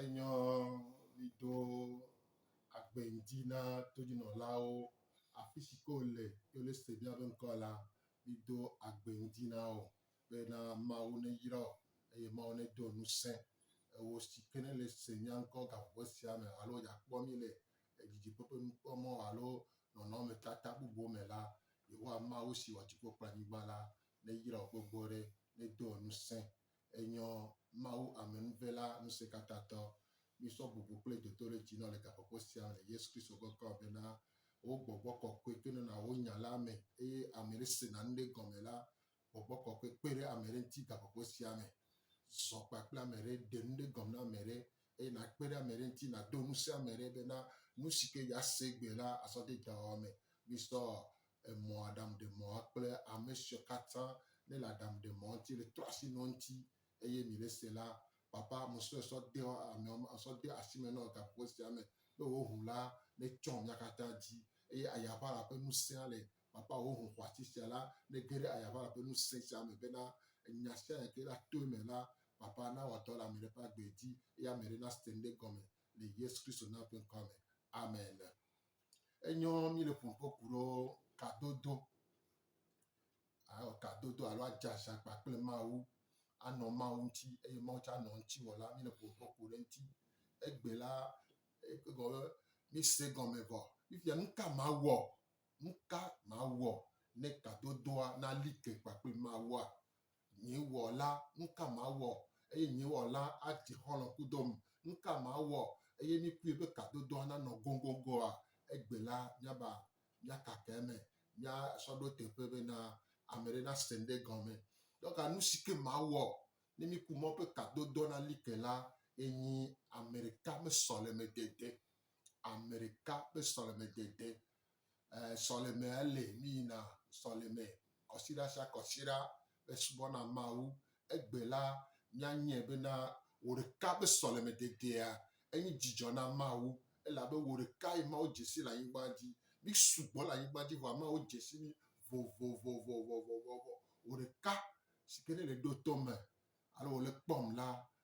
Enyɔ li do agbe ŋdi na todinɔlawo. Afi si ke wòle ye wòle se bia be ŋkɔ la, li do agbe ŋdi na wo be na Mawu neyra wo eye Mawu nedo ŋusẽ ewò si ke nèle se mía ŋkɔ gaƒoƒe sia me alo yeakpɔ mí le didiƒe ƒe nukpɔmɔ alo nɔnɔmetata bubuwo me la, Yehowa Mawu si wɔ dziƒo kple anyigba la, neyra wò gbogbo ɖe, nedo ŋusẽ Enyɔ, Mawu Amenuve la Ŋusẽkatãtɔ, mísɔ bubu kple dodoɖedzi nɔ le gaƒoƒo sia me le Yesu Kristo ŋkɔ me bena, Wò gbɔgbɔ kɔkɔe to nɔna wò nya la me, eye ame ɖe sena nu ɖe gɔme la, gbɔgbɔ kɔkɔe kpe ɖe ame ɖe ŋuti gaƒoƒo sia me. Zɔ kpakple ame ɖe, ɖe nu ɖe gɔme na ame ɖe, eye nàkpe ɖe ame ɖe ŋuti, nàdo ŋusẽ ame ɖe bena nu si ke yease gbe la azɔ de dɔwɔwɔ me. Míesɔ emɔ, aɖaŋuɖemɔa kple ame siwo katã nele aɖaŋuɖemɔa ŋuti le trɔ asi nɔ eŋuti eye mi le ese la, Papa, ame siwo èsɔ de ameawo, èsɔ de asi me nɔ gaƒoƒo sia me, be wòaho la netsɔ mía katã dzi eye ayaʋala ƒe ŋusẽa le Kpakpa hoho xɔasi sia la, nege ɖe ayaʋala ƒe ŋusẽ sia me bena nya sia nya ke la toe me la, kpakpa nawɔ dɔ le ame ɖe ƒe agbe dzi, eye ame ɖe nase ŋɖe gɔme le Yesu Kristo na ƒe ŋkɔa me. Amen. Enyo mi le ƒom ƒe ku ɖo kadodo. Awɔ kadodo alo adze aziakpa kple Mawu. Anɔ Mawu ŋuti eye Mawu tsa nɔ ŋuti wɔ la, mi le ƒom ƒe ku ɖe ŋuti. Egbe la, egɔme mi se gɔme vɔ. Fifia nu ka Mawu wɔ? Nu ka mawɔ ne tadodoa nali ke kpakple Mawua? Nye Wɔla, nu ka mawɔ eye nye Wɔla adze xɔlɔ̃ kudom? Nu ka mawɔ eye mikpɔe be tadodoa nanɔ goŋgoŋgoa? Egbe la, míaba, míakaka eme, míasɔ ɖo teƒe bena ame aɖe nase nu ɖe gɔme. Dɔka nu si ke mawɔ ne miku mɔ be tadodoa nali ke la ye nyi ame ɖeka ƒe sɔlemedede, ame ɖeka ƒe sɔlemedede. ɛɛ sɔlemea ele mí yina sɔleme kɔsiɖa sia kɔsiɖa mí subɔ na Mawu. Egbe la mía nyɛ be na wò ɖeka be sɔleme dedea enyi dzidzɔ na Mawu elabe wò ɖeka ye Mawu dzesi le anyigba dzi. Mí sugbɔ le anyigba dzi vɔa Mawu dzesi mí vovovovovovovovo. Wò ɖeka sike ne le ɖo tome alo wole kpɔm la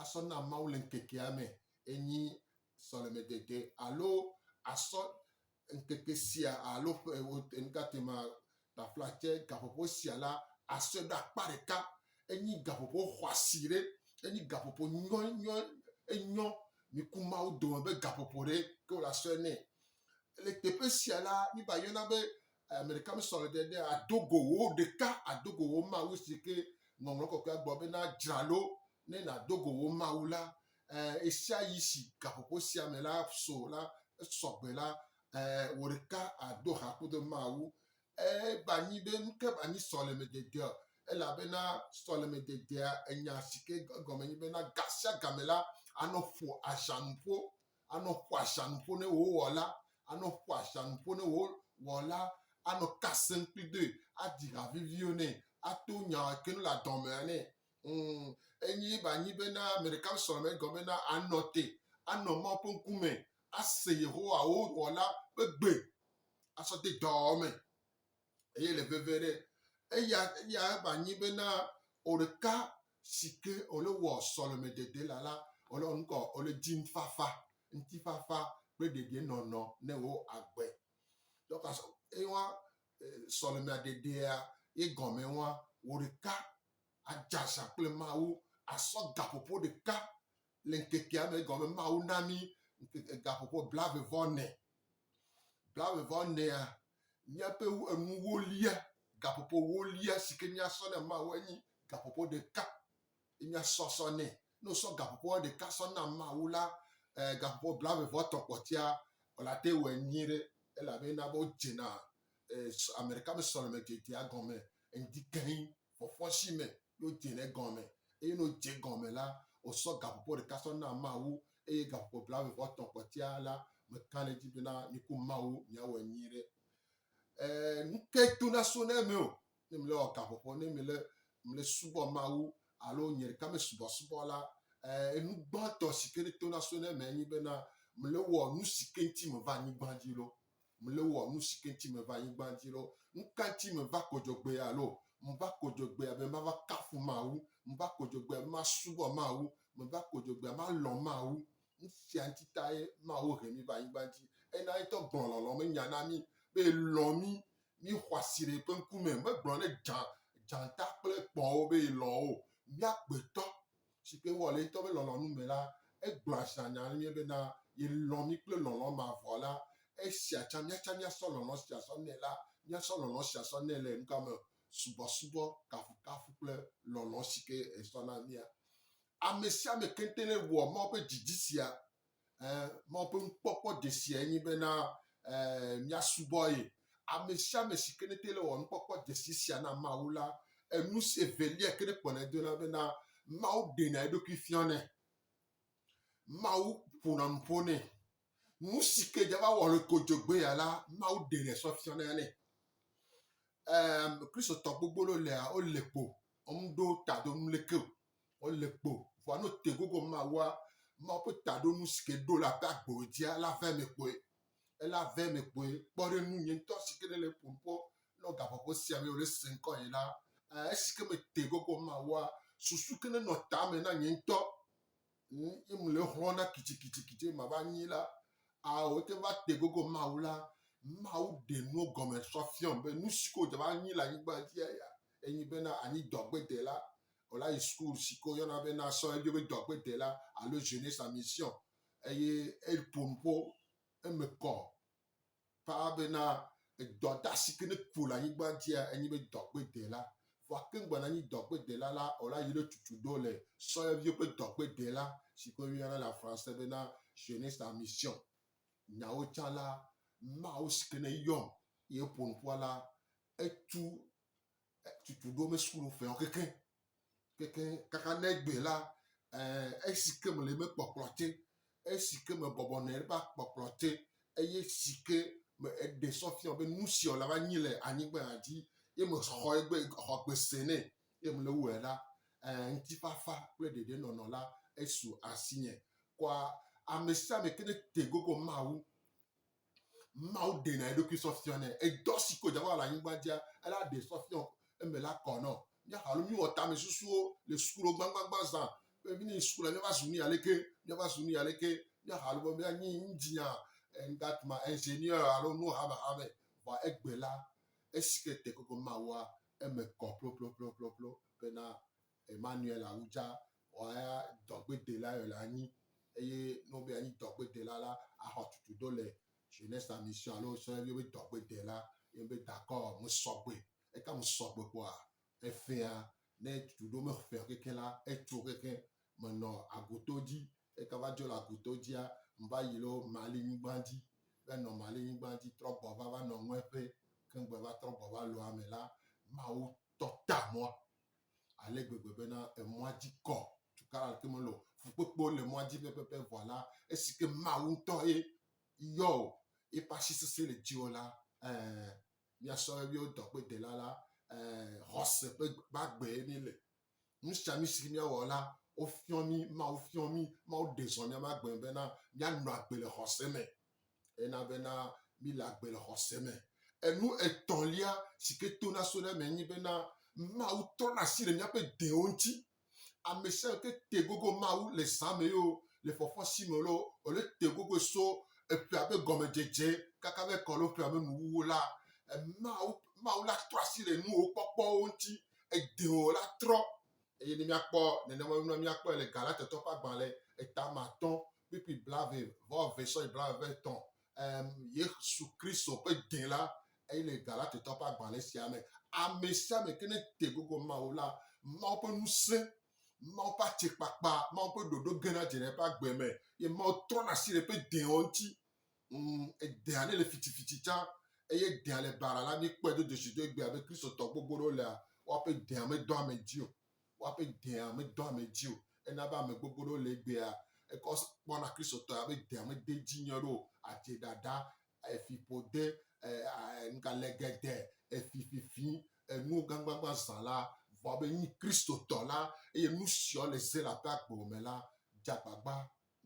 asɔ na Mawu le ŋkekea me enye sɔlemedede alo asɔ ŋkeke sia alo ƒe ewo nutatema tafla tse gaƒoƒo sia la asɔe ɖe akpa ɖeka. Enye gaƒoƒo xɔasi ɖe, enye gaƒoƒo nyɔnyɔ enyɔ miku Mawu dome be gaƒoƒo ɖe ke wole asɔe nɛ. Le teƒe sia la, mi va yɔna be Ame ɖeka me sɔ ɖe ɖe ado go wo ɖeka, ado go wo Mawu si ke Ŋɔŋlɔ Kɔkɔea gblɔ be na dzra ɖo ne nàdo go wo Mawu la. Ɛɛ, ɣesiaɣi si gaƒoƒo sia me la so la, esɔ gbe la, ɛɛ, wò ɖeka àdo ha kudo Mawu. Eva nyi be nu ka va nyi sɔlemededea? Elabena sɔlemededea, enya si ke egɔme nye be na ga sia ga me la, anɔ ƒo aʒanuƒo anɔ ƒo axa nu ƒo ne wò wɔla, anɔ ƒo axa nu ƒo ne wò wɔla, anɔ ka sem kpli doe, adi ha viviwo nɛ, ato nya ke nu le adɔmea nɛ. Mm, enyi ba nyi bena ame ɖeka sɔ me gɔme bena anɔ te, anɔ Mawu ƒe ŋkume, ase Yehowa wò wɔla ƒe gbe, asɔ de dɔwɔwɔ me. Eye le veve ɖe, eya eya eva nyi bena oɖeka si ke ole wɔ sɔleme dede la la ole ɔnukɔ ole dzim fafa, ŋti fafa kple ɖeɖe nɔnɔ ne wo agbe. Dɔka sɔ ewa sɔleme aɖeɖea ye gɔme wa oɖeka adzaza kple mawu asɔ gaƒoƒo ɖeka le ŋkekea me egɔme be Mawu na mí ŋkeke gaƒoƒo blaeve vɔ ene. Blaeve vɔ enea, míaƒe enuwo lia, gaƒoƒowo lia si ke míasɔ na Mawu enye gaƒoƒo ɖeka. Ye míasɔ sɔ nɛ. Ne wosɔ gaƒoƒoa ɖeka sɔ na Mawu la, eh, gaƒoƒo blaeve vɔ etɔ̃ kpɔtɔea, wòle ate wɔ nyuie ɖe elabe ena be wodzena eh, ame ɖeka ƒe sɔleme dzedzea gɔme ŋdi keŋ. fɔfɔshi me ye wode ɖe gɔme. Eye ne wodze gɔme la, wosɔ gaƒoƒo ɖeka sɔ na Mawu, eye gaƒoƒo blaeve vɔ etɔ̃ kpɔtɔea la, meka ɖe edzi bena miku Mawu miawɔe nyuie ɖe. E, nukae to naso na eme o ne mele wɔ gaƒoƒo, ne mele mele subɔ Mawu alo nye ɖeka me subɔsubɔ la? E, enu gbãtɔ si ke to naso na eme enye bena mele wɔ nu si ke ŋuti meva anyigba dzi lo. mle wɔ nushi ke ŋtsi me va anyigban dzi lo, ŋka ŋtsi me va ko dzɔgbea lo? Mva ko dzɔgbea be mava kafu Mawu, mva ko dzɔgbea be ma subɔ Mawu, meva ko dzɔgbea ma lɔ Mawu. Nusia ŋtsi tae Mawu he mi va anyigban dzi. Ena yetɔ gblɔ lɔlɔ me nya na mi be elɔ mi, mi xɔasi ɖe eƒe ŋkume. Me gblɔ ne dza, dzata kple kpɔwo be elɔ wo. Mia gbetɔ si ke wowɔ le ye ŋutɔ ƒe lɔlɔ̃nu me la, egblɔa zã nya nyuie bena yelɔ̃ mí kple lɔlɔ̃ mavɔ la. Esia tsã míatsã míasɔ lɔlɔ̃ sia sɔ nɛ la, míasɔ lɔlɔ̃ sia sɔ nɛ le nuka me? Subɔsubɔ, kafukafu kple lɔlɔ̃ si ke esɔ na mía. Ame sia ame keŋte newɔ Mawu ƒe didi sia. Mawu ƒe nukpɔkpɔ dzesiae nye bena míasubɔ ye. Ame sia ame si ke nete le wɔ nukpɔkpɔ dzesi sia na Mawu la, enu si evelia ke nekpɔnae dona bena Mawu ɖenɛ eɖokui fianɛ. Mawu ƒona nu ƒo nɛ. Nu si ke dzava wɔ le kodzogbe ya la, Mawu ɖenɛ sɔ fianɛ nɛ. Kristotɔ gbogbo le wole kpo, womeɖo ta do nu leke o. Wole kpo vɔa no te gogo mawa Mawu ƒe taɖonu si ke ɖo le aƒe agbo dzia la vɛ me kpɔe. Ela vɛ me kpɔe. Kpɔ ɖe nu nye ŋutɔ si ke ne le ƒom kpɔ nɔ gaƒoƒo sia me eye wole se ŋkɔ yi la. Aa esi ke me te gogo mawa susu ke ne nɔ ta me na nye ŋutɔ ŋ ye me le xlɔ na kitsikitsikitsi be mava nyi la. Aa wote va te gogo Mawu la. Mawu ɖe nuwo gɔme sɔ fiɔm be nu si ke wodze va nyi le anyigba dzia ya enyi bena anyi dɔgbedela. wòla yi school si ke woyɔna be na sɔ eɖo be dɔgbedela alo jeunesse en mission eye eƒo nu ƒo eme kɔ paa bena edɔdasi ke nekpo le anyigba dzia enye be dɔgbedela. Vɔa ke ŋgba nanyi dɔgbedela la o la yi ɖe tutu ɖo le sɔyɔviwo ƒe dɔgbedela si ke woyɔna le afranse bena jeunesse en mission. Nyawo tsã la, Mawu si ke neyɔm ye ƒo nu ƒoa la etu tutu ɖo me sukulu ƒe keke keke kaka ne egbe la eh, esi ke mele me kpɔkplɔ te esi ke me bɔbɔ nɔ eƒe akpɔkplɔ te eye si ke me eɖe sɔ fiɔ be nu si wòla va nyi le anyigba dzi ye mexɔ egbe xɔ gbese nɛ ye mele wɔe la eh, ŋutifafa kple ɖeɖenɔnɔ la esu asinye kɔa ame sia ame ke ne te gogo Mawu Mawu ɖena eɖokui sɔ fiɔ nɛ. Edɔ si ko Yehowa le anyigba dzia, ela ɖe sɔ fiɔ eme la kɔ nɔ. Míaxa alo míwɔ tame susuwo le sukuɖo gbagbagba zã. Be mí suku la míava zu nu ya leke, míava zu nu ya leke. Míaxa alo be míanyi ŋdzinya, ŋdatuma, ingénieur alo nu hamehame. Vɔa egbe la, esi ke tekpekpe Mawua, eme kɔ ploploploploplo bena Emmanuel Awudza wɔa dɔgbedela yɔ le anyi eye ne wobe yeanyi dɔgbedela la, axɔ tutu do le Jeunesse en Mission alo wosɔ ye be dɔgbedela. Ye mebe dakɔ, mesɔgbe. Eka mesɔgbe kpɔa, eƒea, ne tutu ɖewo meƒea o kekeŋ la, etso kekeŋ. Menɔ Agoto dzi. Eka va dzo le Agoto dzia, meva yi ɖo Mali nyigban dzi. Be nɔ Mali nyigban dzi trɔ gbɔ va va nɔ Ŋɔɛƒe. Ke ŋgbe va trɔ gbɔ va Loame la, Mawu tɔ ta mɔa, ale gbegbe bena emɔa dzi kɔ tukaɖa ɖeke mele o. Fukpekpewo le mɔa dzi pɛpɛpɛ vɔ la, esi ke Mawu ŋutɔ ye yɔ wò, eƒe asi sesẽ le dziwò la, ɛ̃, mía sɔhɛviwo dɔgbedela la, ɛ̃, xɔse ƒe gbagbee mí le. Nu sia nu si mía wɔ la, wofiɔ mí, Mawu fiɔ mí, Mawu ɖe zɔ mía ƒe agbe me bena mía nɔ agbe le xɔse me. Ena bena míle agbe le xɔse me. Enu etɔ̃lia si ke tona so ɖe eme nye bena Mawu trɔna asi le míaƒe dẽwo ŋuti. Ame sia ame ke te gogo Mawu le zã me ye o, le fɔfɔ si me loo alo ete gogoe so eƒea ƒe gɔmedzedze kaka va yi ke alo ƒea ƒe nuwuwu la, Mawu, Mawu la trɔ asi le nuwo kpɔkpɔwo ŋuti. Edẽwo la trɔ. Eye ne míakpɔ nenema nua, míakpɔe le Galatatɔwo ƒe agbalẽ etame atɔ̃ kpikpi blave vɔ eve sɔyi blave vɔ etɔ̃ um, Yesu Kristo ƒe dẽ la eyi le Galatetɔ ƒe agbalẽ sia me. Ame sia ame ke ne te gogo Mawu la, Mawu ƒe ŋusẽ, Mawu ƒe atsekpakpa, Mawu ƒe ɖoɖo gena dze ɖe eƒe agbe me, ye Mawu trɔna asi ɖe eƒe dẽwo ŋuti. Mm, edea ne le fitifici tsã, eye dea le bara la, míekpɔe do dzesi do egbea be Kristotɔ gbogbo ɖewo lea, woaƒe dea medɔ ame dzi o. woaƒe dea medɔ ame dzi o. Ena be ame gbogbo ɖewo le egbea ekɔ kpɔna Kristotɔ ya be dea mede edzi nyuie ɖe o, adze ɖaɖa, efiƒode, nugale geɖe, efififi, enuwo gãgbagbã zã la, vɔ be enyi Kristotɔ la eye nusiawo le ze le aƒe agbo me la, dze agbagba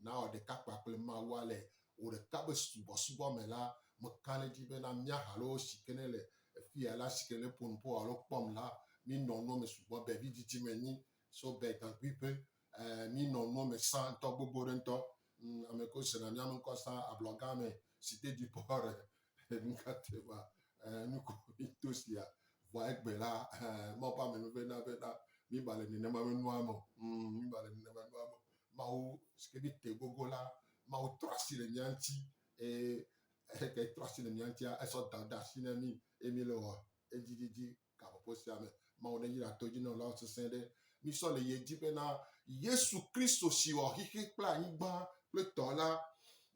nawɔ ɖeka kpa kple Mawu ale o ɖeka be subɔsubɔ me la, meka ɖe edzi bena mía ha loo si ke ne le afia la si ke ne ƒo nu ƒo alo kpɔm la, minɔ nua me sugbɔ be vidzidzi menyi so be gaŋkui ƒe ɛɛ minɔ nua me sã ŋutɔ gbogbo ɖe ŋutɔ. Ame ko sena mía me ŋkɔ sã ablɔga me si dede ƒe Nukateva nukunuto sia vɔa egbe la Mawu ƒe ame nuve na ve na mi ba le nenema me nua me mi ba le nenema nua me Mawu sike mi te gogo la Mawu trɔ asi le mia ŋuti eye heke trɔ asi le mia ŋutia esɔ dada asi na mi eye mi le wɔ edzididi Gaƒoƒo sia me, Mawu neyra todzinɔlawo sesẽ ɖe mí sɔ le ye dzi bena Yesu Kristo si wɔ xexi kple anyigba kple tɔ la,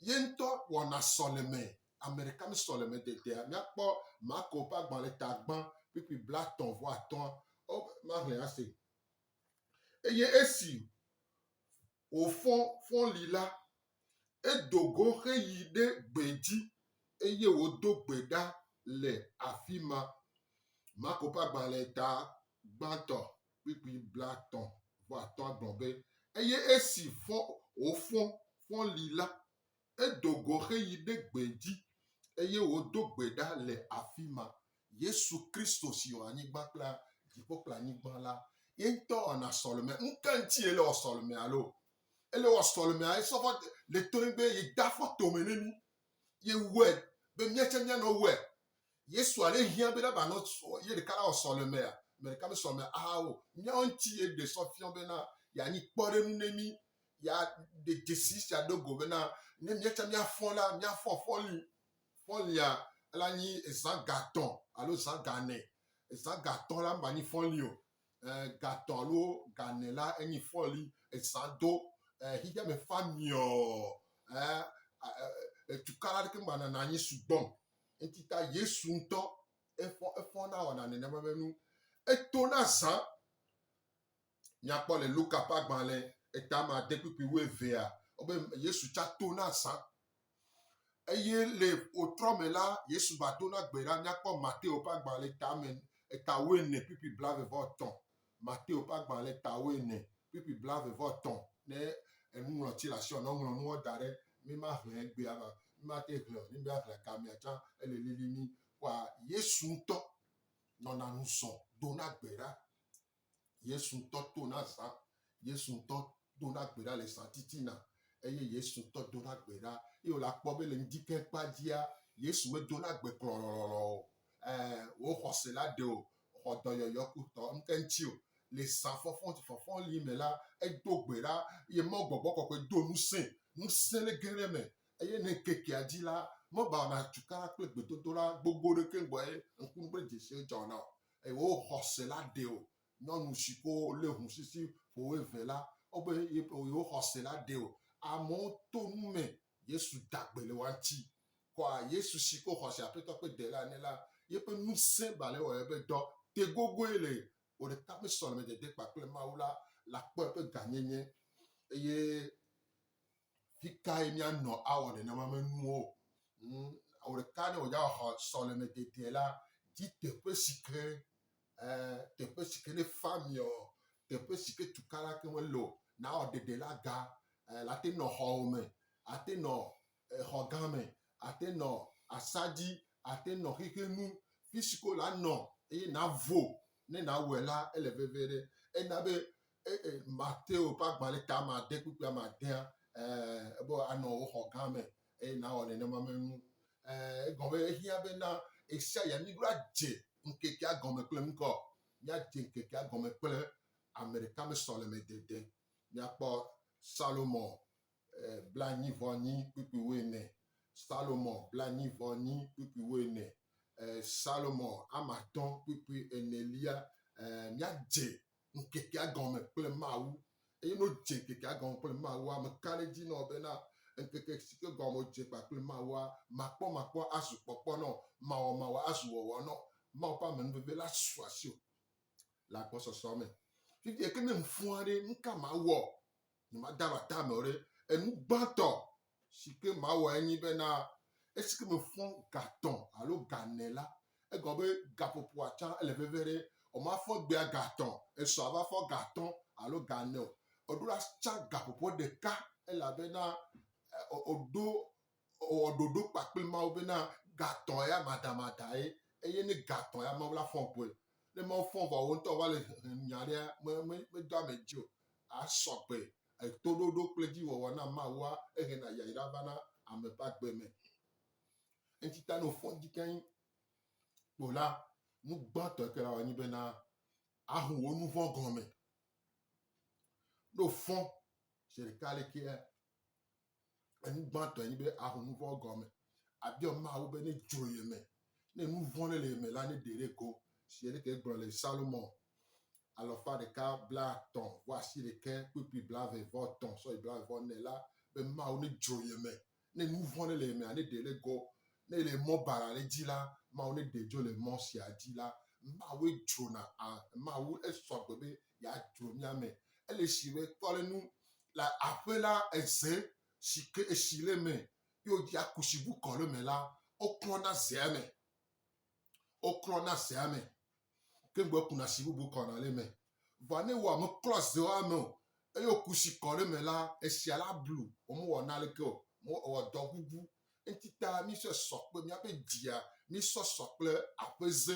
ye ŋutɔ wɔna sɔleme ameɖeka mí sɔleme dedea. Míakpɔ Marko ƒe agbalẽ tagbã kpukpui blatɔ̃ vɔ atɔ̃a. Ɔ, maxlẽ ase. Eye esi Wòfɔ fɔli la, edo go heyi ɖe gbedzi, eye wòdo gbe ɖa le afi ma. Marko ƒe agbalẽ ta gbãtɔ kpukpui blaetɔ̃ vɔ atɔ̃a gblɔ be, Eye esi fɔ, wòfɔ fɔli la. Edo go heyi ɖe gbee dzi, eye wòdo gbe ɖa le afi ma. Yesu Kristo si wɔ anyigba kple dziƒo kple anyigba la, ye ŋutɔ wɔna sɔleme. Nu ka ŋuti ele wɔ sɔleme alo? Ele wɔ sɔlemea esɔ va le tɔe be yede afɔ tome ne mí. Yewɔe be míatsɛ míanɔ wɔe. Yesu ale hiã bena ba nɔ sɔ ye ɖeka la wɔ sɔ le mea, me ɖeka me sɔ me aha wo. Nyawo ŋuti ye ɖe sɔ fiɔ bena ya nyi kpɔɖenu ne mi. Ya ɖe dzesi sia ɖo go bena ne mia tsa mia fɔn la, mia fɔn fɔli. Fɔlia la nyi ezã gatɔ alo zã ganɛ. Ezã gatɔ la mba nyi fɔli o. E, gatɔ alo ganɛ la enyi fɔli. Ezã do e, xixia me fa miɔ e, e, e, e, e, tukala ɖeke mba nana nyi sugbɔm. Eti ta Yesu ŋutɔ efɔ efɔ na wɔna nenema be nu eto na zã. Nyakpɔ le Luka ƒe agbalẽ etama de kpukpui wu evea wobe Yesu tsa to na zã. Eye le wotrɔ me la Yesu va to na gbe la nyakpɔ Mateo ƒe agbalẽ etame eta wu ene kpukpui blave vɔ etɔ̃ Mateo ƒe agbalẽ tawo ene, kpukpui blaeve vɔ etɔ̃ ne enuŋlɔti le asiwò ne woŋlɔ nuwo da ɖe mi ma hlẽ egbea va mi ma te hlẽ o ne mi ahlẽ gamea tsã ele lili mi kpɔa yesu ŋutɔ nɔna nu zɔ dona gbe ɖa yesu ŋutɔ tona zã yesu ŋutɔ dona gbe ɖa le zãtitina eye Yesu ŋutɔ dona gbe ɖa. Eye wòle akpɔ be le ŋdikẽ kpa dzia, Yesu medona gbe klɔlɔlɔlɔ o. Ẽ, wò xɔse la ɖe wò xɔ dɔyɔyɔ ku tɔ ŋkeŋti o. Le zã fɔfɔfɔfɔli me la, edo gbe ɖa eye Mawu gbɔgbɔ kɔkɔe do ŋusẽe. Ŋusẽ le ge ɖe eme eye le ŋkekea dzi la, meʋãna tukara kple gbedodoɖa gbogbo ɖeke gbɔ eye ŋkuŋugbedzesiwo dzɔna o. Eye wò xɔse la ɖe wò Nyɔnu si ko lé ŋu sisi ƒo eve la, wobe yewo xɔse la ɖee o. Amewo to nu me Yesu da gbe le woa ŋuti. Kɔa Yesu si ko xɔse Aƒetɔ ƒe Dela ene la, yeƒe ŋusẽ ba le ewɔm eƒe dɔ te gogoe le o ɖeka ƒe sɔlemedede kpakple Mawu la, la kpɔ eƒe gãnyenye eye Fi kae míanɔ awɔ nenema me nuwo? Ŋ, ɔ ɖeka ne wòdza xɔ sɔleme dede la, di teƒe si ke ɛ, teƒe si ke ne fa miɔ, teƒe si ke tukala ke mele o. Nawɔ ɖeɖe la ga ɛ, la te nɔ xɔwo me, ate nɔ exɔ gã me, ate nɔ asadzi, ate nɔ xexe nu, fi si ke wòla nɔ eye navo. Ne nawɔe la, ele veve ɖe. Ena be Mateo ƒe agbalẽ ta ame ade kpukpui ame adea, ebe anɔ wò xɔ gã me eye nawɔ nenema me nu. Egɔme ehiã be na ɣesiaɣia mí ɖo adze ŋkekea gɔme kple ŋkɔ. Míadze ŋkekea gɔme kple ame ɖeka me sɔleme dede. Míakpɔ Salomo blanyi vɔ nyi kpukpui wuiene, Salomo blanyi vɔ nyi kpukpui wuiene, Salomo ame atɔ̃ kpukpui enelia. Míadze nu ŋkekea gɔme kple Mawu. Eye ne wodze ŋkekea gɔme kple Mawua, meka ɖe edzi na wò bena, ŋkeke si ke gɔme wodze kpakple Mawua, makpɔmakpɔ azu kpɔkpɔ na wò, mawɔmawɔ azu wɔwɔ na wò. Mawu ƒe amenuveve la su asiwò le agbɔsɔsɔ me. Fifia ke ne ŋu fɔa ɖe, nu ka mawɔ Nyemada ɖe ata me o ɖe. Enu gbãtɔ si ke mawɔe nye bena esi ke mefɔ ga tɔ̃ alo ga ene la, egɔme be gaƒoƒoa tsã ele veve ɖe. Womafɔ egbea ga tɔ̃, esɔ ava fɔ ga atɔ̃ alo ga ene o. Woɖo la tsã gaƒoƒo ɖeka elabena woɖo Wɔ ɖoɖo kpakple Mawu bena gatɔ̃ ya madamadae, eye ne gatɔ̃ ya Mawu la fɔ̃ vɔe. Ne Mawu fɔ̃ vɔ wò ŋutɔ va le hem nya aɖea, me, me, medo ame dzi o. Asɔ gbe. Toɖoɖo kple dziwɔwɔ na Mawua ehena yayra vana ame ƒe agbe me. Eŋti ta ne wòfɔ̃ dzi keŋ ko la, nu gbãtɔ ke awɔ nye bena aho wò nuvɔ̃ gɔme. Ne wòfɔ̃ zi ɖeka alekea, Enu gbãtɔe nye be aho nu vɔ̃ gɔme. Abiɔ Mawu be ne dzo ye me, ne nu vɔ̃ ɖe le ye me la, ne ɖe ɖe go. Si ele ke gblɔ le Salomo alɔfa ɖeka blaatɔ̃ vɔ asi ɖeke kpukpui blave vɔ tɔ̃ sɔyi blave vɔ ne la be Mawu ne dzo ye me, ne nu vɔ̃ ɖe le ye mea, ne ɖe ɖe go. Ne le mɔ bara ɖe dzi la, Mawu ne ɖe dzo le mɔ sia dzi la, Mawue dzona a, Mawu esɔgbe be ya dzɔ mía me. Ele shi be tɔ le nu le aƒe la eze shi ke eshi le me ye wodzi akushi bu kɔ le me la, woklɔ na zea me. Woklɔ na zea me. Ke ŋgbe kuna shi bubu kɔ na le me. Vɔ ne wɔ me klɔ zewa me o eye wokushi kɔ le me la, eshia la blu. Womewɔ na leke o. Wɔ dɔ bubu. Eŋuti ta mi sɔ sɔ kple míaƒe dzia, mi sɔ sɔ kple aƒeze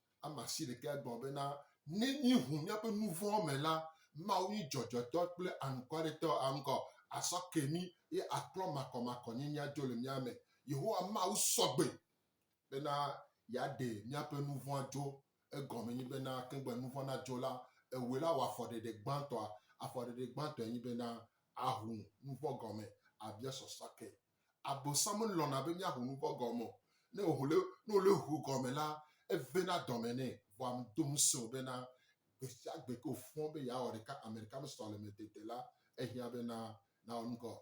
Ame asiɖekɛ gblɔ bena, Ne míeʋu míaƒe nu vɔ̃wo me la, Mawu nyi dzɔdzɔetɔ kple anukwaretɔ, aŋgɔ asɔ ke mí, eye aklɔ makɔmakɔnyenyea dzo le mía me. Yehowa Mawu sɔ gbe bena yeaɖe míaƒe nu vɔ̃a dzo. Egɔmee nye bena, kegbe nu vɔ̃ nadzo la, ewɔe la wɔ afɔɖeɖe gbãtɔa. Afɔɖeɖe gbãtɔe nye bena, aʋu nu vɔ̃ gɔme, abia sɔsɔa ke. Abosam lɔ̃na be míaho nu vɔ̃ gɔme o. Ne wòle, ne wòle ho gɔme la, evena dɔme nɛ. Vɔa medo ŋusẽ o bena gbe sia gbe ke wòfɔ be yeawɔ ɖeka ame ɖeka me sɔleme dede la, ehiã bena nawɔ nu gɔme.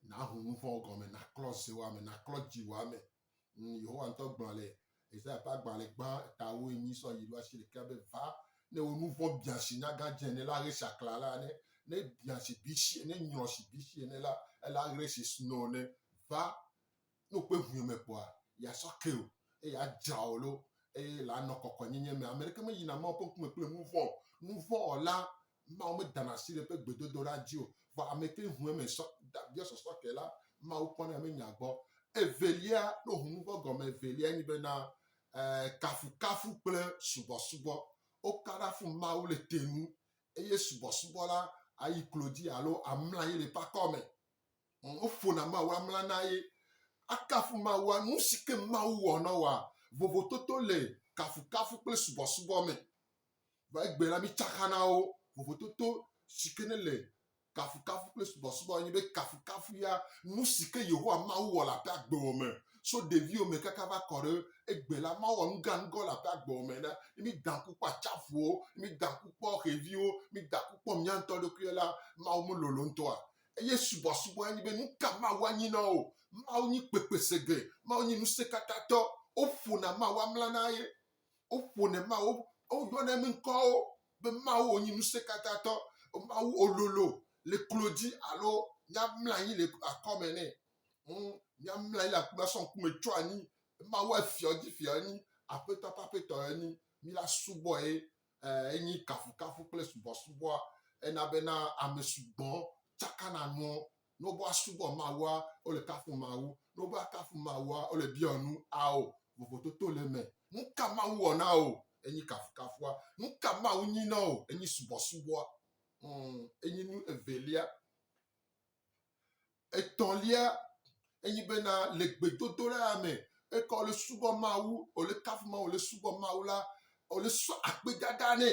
Naho nu vɔ̃wo gɔme, naklɔ zewò ame, naklɔ dziwò ame. Ŋ, Yehowa ŋutɔ gblɔ le Yesaya ƒe agbalẽ gbã etawoe nyi sɔ yi ɖo asi ɖekea be, Va, ne wò nu vɔ̃ biã si nyaga dze ene la, ɣe si aklã la ne, ne biã si bisi ene, ne nyrɔ si bisi ene la, ele aɣre si snow ne. Va, ne wòkpɔe ŋue me kpɔa, yeasɔ ke wò, eye adzra wò lo, eye le anɔ kɔkɔenyenye me. Ameɖeke meyina Mawu ƒe ŋkume kple nu vɔ̃ o. Nu vɔ̃ wɔla Mawu medana asi ɖe eƒe gbedodoɖa dzi o, vɔ ameke ŋue mesɔ da via sɔsɔ ke la, Mawu kpɔnɛ menya gbɔ. Evelia, no hunuvɔ̃ gɔme evelia nye bena, ɛɛ, kafukafu kple subɔsubɔ. Woka ɖa fun Mawu le te nu, eye subɔsubɔ la ayi klo dzi alo amla anyi le eƒe akɔme. Ŋ, woƒona Mawu amla na ye. Akafu Mawua nu si ke Mawu wɔ na woa? Vovototo le kafukafu kple subɔsubɔ me. Va egbe la, mitsaka na wo vovototo si ke nele kafukafu kple subɔsubɔ anyi be kafukafu ya nu si ke Yehowa Mawu wɔ le aƒe agbewɔ me so ɖeviwo me kaka va kɔ ɖe egbe la. Mawu wɔ nuganugã le aƒe agbewɔ me na ne mída ŋku kpɔ atsaƒuwo, ne mída ŋku kpɔ xeviwo, mída ŋku kpɔ mía ŋutɔ ɖokuiwo la, Mawu melolo ŋutɔa? Eye subɔsubɔ anyi be nu ka Mawu anyi na wo? Mawu nyi kpekpesege, Mawu nyi ŋusẽkatãtɔ, woƒona Mawu amla na ye. Woƒone Mawu, woyɔne be ŋkɔwo be Mawu wònyi Ŋusẽkatãtɔ, Mawu wòlolo le klo dzi alo míamlɔ anyi le akɔme nɛ. Hmm, míamlɔ anyi le akɔme asɔ ŋkume tsyɔ anyi. Mawu efiɔ dzi fiɔ enyi, aƒetɔ ƒe aƒetɔ enyi. Míla subɔe eh, enyi kafukafu kple subɔsubɔa. Ena bena ame sugbɔ tsakana nuwo Ne wova subɔ Mawua, wole kafu Mawu. Ne wova kafu Mawua, wole biɔ nu ao. Vovototo le eme. Nuka Mawu wɔ na ao? Enyi kafukafua. Nuka Mawu nyi na ao? Enyi subɔsubɔa. Hmm, enyi nu evelia. Etɔ̃lia, enyi bena le gbedodoɖa me, eka wole subɔ Mawu, wole kafu Mawu, wole subɔ Mawu la, wole sɔ akpedada nɛ.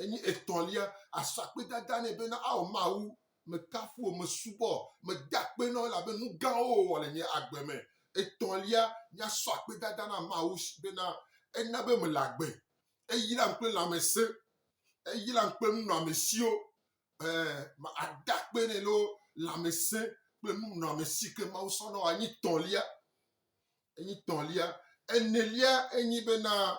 Enye etɔ̃lia asakpedada nɛ bena, Ao Mawu, mekafu wò, mesubɔ wò, meda akpe na wò elabe nu gãwo wòwɔ le nye agbe me. Etɔ̃lia, míasɔ akpedada na Mawu bena, Ena be mele agbe. Eyram kple lãmesẽ. Eyram kple nunɔamesiwo. Ɛɛ, mada akpe nɛ loo, lãmesẽ kple nunɔamesi yi ke Mawu sɔ na wò anyi tɔ̃lia. Enyi tɔ̃lia. Enelia enye bena,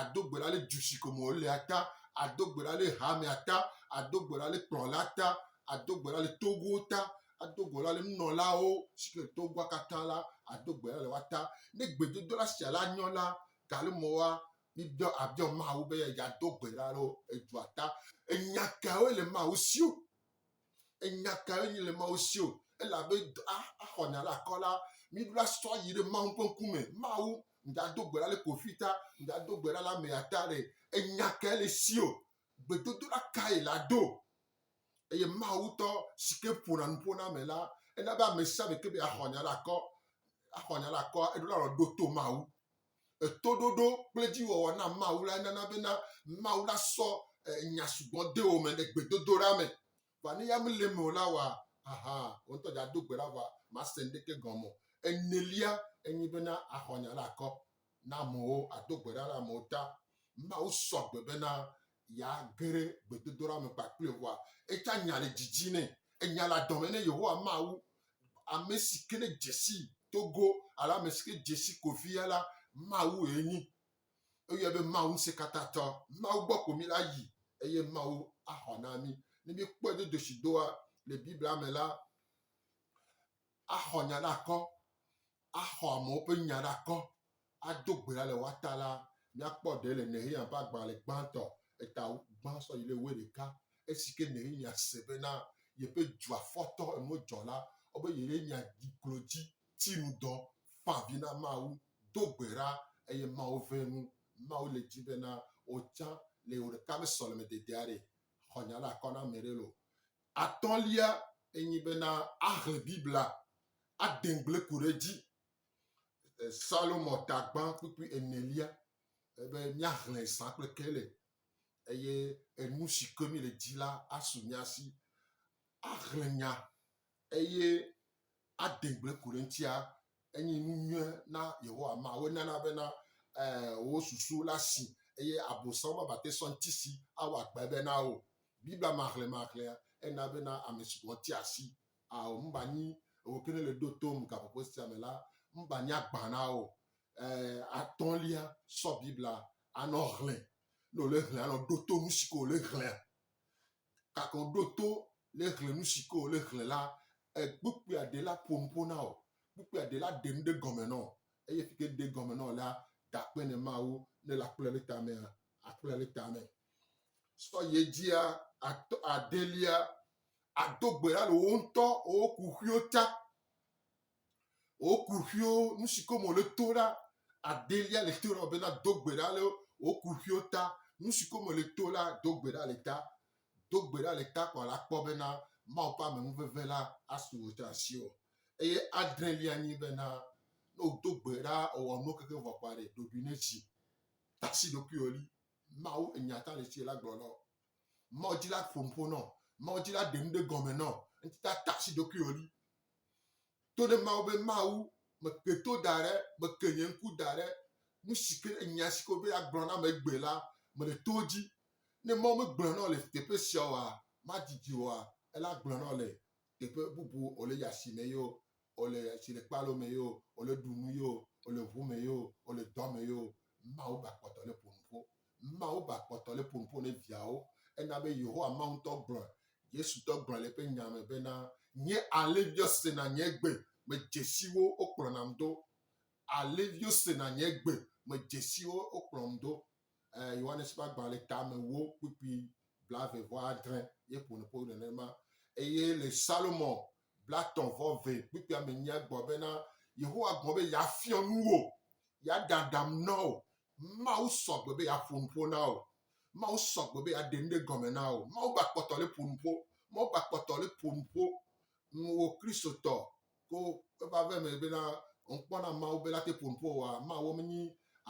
ado gbe ɖa le du si ko me wolea ta, ado gbe ɖa le hamea ta, ado gbe ɖa le kplɔla ta, ado gbe ɖa le togowo ta, ado gbe ɖa le nunɔlawo si ke le togoa katã la, ado gbe ɖa le woa ta. Ne gbedodoɖa sia la nyɔ la, gale me woa, mibiɔ abiɔ Mawu be yeado gbe ɖa le edua ta. Enya kawoe le Mawu si o? Enya ka enye le Mawu si o, elabe axɔna ɖe akɔ la, míɖo la sɔ yi ɖe Mawu ƒe ŋkume. Mawu, migado gbe ɖa le kofi ta, migado gbe ɖa le amea ta ɖe. Enya ka ele si o, gbedodoɖa kae la do. Eye Mawu tɔ si ke ƒona nu ƒo na ame la, ena be ame sia ame ke be axɔ nya ɖe akɔ, axɔ nya ɖe akɔ, eɖo la lɔ ɖo to Mawu. Etoɖoɖo kple edziwɔwɔ na Mawu lae nana bena Mawu la sɔ nya sugbɔ de wò me le gbedodoɖa me. Vɔ ne ya mele eme o la, wɔ ahan wò ŋutɔ dza do gbe ɖa vɔ màse nuɖeke gɔme o. Enelia enye bena axɔ nya la akɔ na amewo, ado gbe ɖa ɖe amewo ta. Mawu sɔ gbe bena Ya ge ɖe gbedodoɖa me kpakple Yehowa. Etsã nya le didi nɛ. Enya le adɔme nɛ. Yehowa Mawu, ame si ke ne dze sii to go alo ame si ke dze si ko via la, Mawue enyi. Eyɔe be Mawu Ŋusẽkatãtɔ. Mawu gbɔ ko mí la yi eye Mawu axɔ na mí. Ne míekpɔe do dosi doa le Biblia me la, axɔ nya ɖe akɔ axɔ amewo ƒe nya ɖa kɔ ado gbe ɖa le woa ta la, míakpɔ ɖe le Nehemiya ƒe agbalẽ gbãtɔ, eta gbã sɔ yi ɖe wuiɖeka, esi ke Nehemiya se bena yeƒe dua fɔtɔ enuwo dzɔ la, wobe yeɖe nya dzi klo dzi, ti nu dɔ, fa avi na Mawu, do gbe ɖa, eye Mawu ʋẽ nu. Mawu le dim bena wò tsã le wò ɖeka ƒe sɔlemedede aɖe xɔ nya ɖa kɔ na ame aɖe loo. Atɔ̃lia enye bena ahlẽ Biblia ade ŋugble ko ɖe edzi. Salomo tagbã kpukpui enelia be míahlẽ zã kple kele eye enu si ke míele di la asu mía si. Ahlẽ nya eye ade gbe ku ɖe eŋutia, enye nu nyui na Yehowa Mawu. Enana bena eh, wò susu la si eye Abosam mabate sɔ ŋutisi awɔ akpebe na wò. Biblia mahlemahlea ena bena ame si gɔ̃ tia asi ao nubanyi ewò ke nèle ɖo tom gaƒoƒo sia me la, nubanyi agbã na wò. Eh, atɔ̃lia, sɔ Biblia anɔ hlẽ. Ne wòle hlẽ anɔ ɖo to nu si ke wòle hlẽa. Gakɔ ɖo to ne xlẽ nu si ke wòle xlẽ la, kpukpuia ɖe la ƒo nu ƒo na wò, kpukpuia ɖe la ɖe nu ɖe gɔme na wò. Eye efi ke ɖe gɔme na wò la, gakpɔe ne Mawu ne le akplɔe ɖe tamea, akplɔe ɖe tame. Sɔ yi edzia, atɔ, adelia, ado gbe ɖa le wò ŋutɔ wò kuxiwo ta. Woku ƒio nu si kom wòle to ɖa. Adelia le to ɖa be nado gbe ɖa le woku ƒio ta. Nu si kom wòle to la, do gbe ɖa le ta. Do gbe ɖa le ta kpɔ la kpɔ bena Mawu ƒe amenuveve la asu wò ɖe asiwò. Eye adrelia nyi bena ne wòdo gbe ɖa ewɔ nuwo keke vɔ kpɔ aɖe, ɖoɖoe nedzi. Tasi ɖokuiwò li. Mawu enya ta le tsi la gblɔ na wò. Mawu dzi la ƒo nuƒo nɔ, Mawu dzi la ɖe nu ɖe gɔme nɔ, ŋti ta ta si ɖokuiwò li. To ɖe Mawu be Mawu meke to da ɖe, meke nye ŋku da ɖe nu si ke nya si ko be agblɔ na ame gbe la, mele to dzi. Ne Mawu megblɔ nɔ le teƒe sia oa, madidi oa, ele agblɔ nɔ le teƒe bubu o le ya si me yeo. ɔ le atsi le kpalo me yio, ɔ le ɖu nu yio, ɔ le ŋu me yio, ɔ le dɔ me yio, Mawu ba kpɔtɔ le ƒo nuƒo. Mawu ba kpɔtɔ le ƒo nuƒo ne viawo. Ena be Yehowa Mawu ŋutɔ gblɔe. Yesu ŋutɔ gblɔe le eƒe nya me bena, Nye alẽviwo sena nye gbe, medze si wo, wokplɔnam do. Alẽviwo sena nye gbe, medze si wo, wokplɔm do. Eh, Yohanes ƒe agbalẽ tame wo kpukpui blaeve vɔ adre ye ƒo nuƒo nenema. Eye le Salomon Blatɔ̃ vɔ vɛ kpukpuia me nyia egbɔ bena, Yehowa gblɔ be yeafiɔ nu wò, yeaɖe aɖaŋu na wò. Mawu sɔ gbe be yeaƒo nu ƒo na wò. Mawu sɔ gbe be yeaɖe nu ɖe gɔme na wò. Mawu gba kpɔtɔ le ƒo nu ƒo. Mawu gba kpɔtɔ le ƒo nu ƒo nu wò Kristotɔ ko eva ve me bena, Ŋkpɔ na Mawu be la te ƒo nu ƒo wòa? Mawu menyi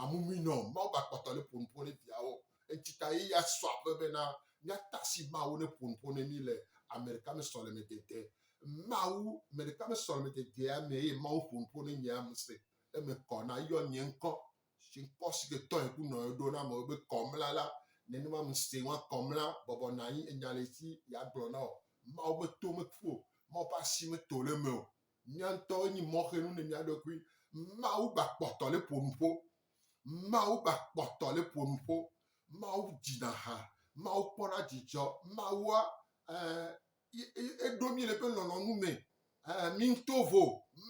amumui nɔ o. Mawu gba kpɔtɔ le ƒo nu ƒo ne viawo. Enti ta ye ya sɔ aƒe be na míata asi Mawu ne ƒo nuƒo ne mí le ame ɖeka me sɔlemedede. Mawu me ɖeka me sɔlemededea me eye Mawu ƒo nuƒo ne nye ame se eme kɔ na yɔ nye ŋkɔ si ŋkɔ si ke tɔe ku nɔe ɖo na amewo be kɔmla la nenema me se ŋua kɔmla bɔbɔ na anyi enya le si ya gblɔ na o. Mawu ƒe to me ƒu o. Mawu ƒe asi me to le eme o. Mía ŋutɔ enyi mɔxenu ne mía ɖokui. Mawu gba kpɔtɔ le ƒo nuƒo. Mawu ba kpɔtɔ le ƒo nuƒo. Mawu dzina ha. Mawu kpɔna dzidzɔ. Mawua eɖo mí le eƒe lɔlɔ̃nu me. Mi ŋutɔ vo.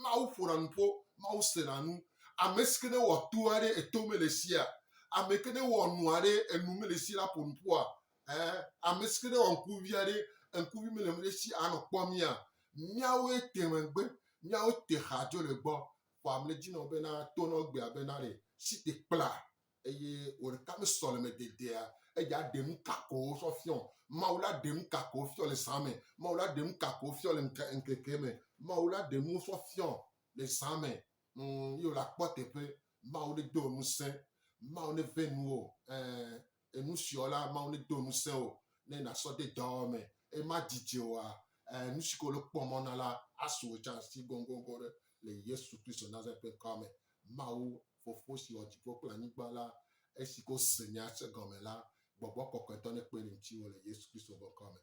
Mawu ƒona nu ƒo. Mawu sena nu. Ame si ke ne wɔ to aɖe, eto mele sia. Ame ke ne wɔ nu aɖe, enu mele si la ƒo nu ƒoa. Ame si ke ne wɔ ŋkuvi aɖe, ŋkuvi mele esi anɔ kpɔ mía. Míawoe te megbe. Míawo te xa dzo le gbɔ. Kpɔ amle dzi nɔ bena to nɔ gbea bena ɖe si te kpla eye wò ɖeka me sɔ le me dedea eya ɖe nu ka ko sɔ fiɔ Mawu la ɖe nu ka ko fiɔ le zã me Mawu la ɖe nu ka ko fiɔ le ŋke ŋkeke me Mawu la ɖe nu sɔ fiɔ le zã me mm, ye wòle akpɔ teƒe Mawu ne do ŋusẽ Mawu ne ve nuwo ɛɛ Enu siɔ la, Mawu nedo ŋusẽ wò ne nàsɔ de dɔwɔwɔ me eye madidi wòa ɛɛ nu si ke wòle kpɔ mɔ na la asu wò tsã si gɔngɔgɔ̃ ɖe le Yesu Kristo Nazaret ƒe ŋkɔa me. Mawu, Fofo si wɔ dziƒo kple anyigba la, esi ke wose nya sia gɔme la, Gbɔgbɔ Kɔkɔetɔ nekpe ɖe ŋutiwò le Yesu Kristo ƒe ŋkɔa me.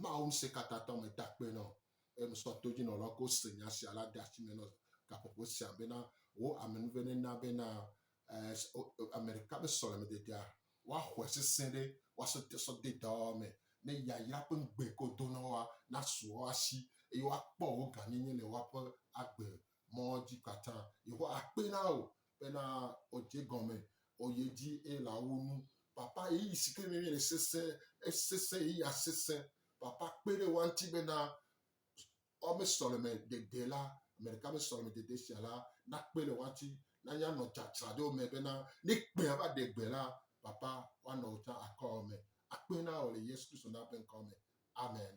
Mawu Ŋusẽkatãtɔ meda akpe na wò eye mesɔ todzinɔlawo ke wose nya sia la de asi me nɔ gaƒoƒo sia bena wò amenuveve nena bena Ame ɖeka be sɔlemededea woaxɔe sesẽ ɖe woasɔ de sɔ de dɔwɔwɔ me ne yayra ƒe ŋugbe ke wòdo na woa nasu woawo asi eye woakpɔ wò gãnyenye le woaƒe agbe mɔ dzi katã. Yehowa akpee na wò bena wòdze egɔme, wòyi edzi eye le awu nu. Papa, ɣeyiɣi si ke nèle nye le sesẽ, esesẽ, ɣeyiɣia sesẽ. Papa, kpe ɖe woa ŋuti bena. Woame sɔleme dede la, ame ɖeka ƒe sɔleme dede sia la nakpe le woati na ya nɔ dza tra ɖe wo me bena ne kpea va ɖe gbe la, papa woanɔ wo ta akɔ wo me. Akpe na wò le Yesu Kristo na ƒe ŋkɔ me. Amen.